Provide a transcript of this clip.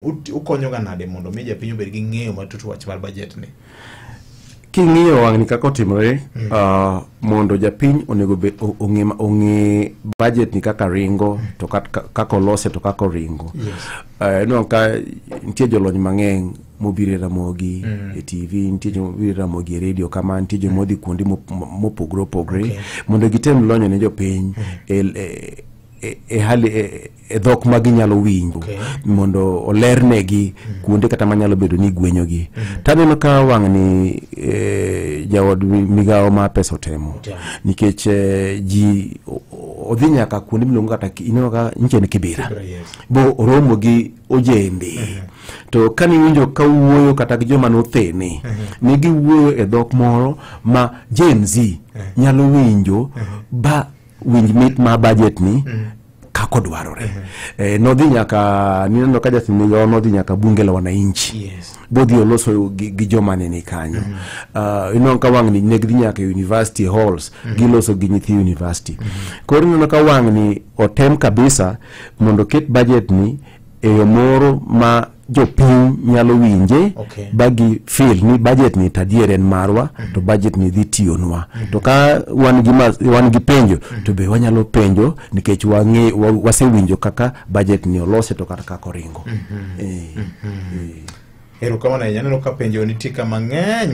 ut- ukonyoga nade mondo mi japiny obed gi ng'eyo matut wach mar bajet ni king'iyo wang'ni kaka otimore ah, mondo japiny onego be- o- ong'e ma- ong'e budget ni kaka ringo to kat- ka- kaka olose to kaka oringo Eh, ineno ka nitie jolony mang'eny mobiro e ramogi e tv nitie jomobiro e ramogi e redio kama nitie jomodhi kuonde mop- mopogore opogore mondo gitem lonyo ne jopiny e- e- e- e hali e- e dhok ma ginyalo winjo okay. mondo olernegi mm. kuonde kata manyalo bedo ni gwenyogi mm. Mm-hmm. taneno ka wang'ni e, jaod migawo ma pesa otemo yeah. nikech e, ji odhi nyaka kuonde miluongo kata ineno ka nchen kibira Kibra, yes. bo oromo gi ojembe mm -hmm to kane iwinjo ka wuoyo kata gi joma nothene mhm. ne giwuoyo e dhok moro ma Gen Z mhm. nyalo winjo mhm. ba winj mit ma budget ni kako dwarore eh, nodhi nyaka nineno ka Justin Migawa nodhi nyaka bunge la wananchi Yes. bodhi oloso gi, gi joma nene kanyo uh, ineno ka wang'ni ne gidhi nyaka e university halls giloso gi nyithi university koro ineno ka wang'ni otem kabisa mondo oket budget ni e yo moro ma jopiny nyalo winje okay. bagi fil ni budget ni tadier en marwa mm -hmm. to budget ni dhi tiyonwa mm -hmm. to ka wan gi, ma, wan gi penjo mm -hmm. to be wanyalo penjo nikech wang'e wa, wasewinjo kaka budget ni olose to kata kaka oringo mm -hmm. e, mm -hmm. e. erokamano ahinya aneno ka penjo nitie ka mang'eny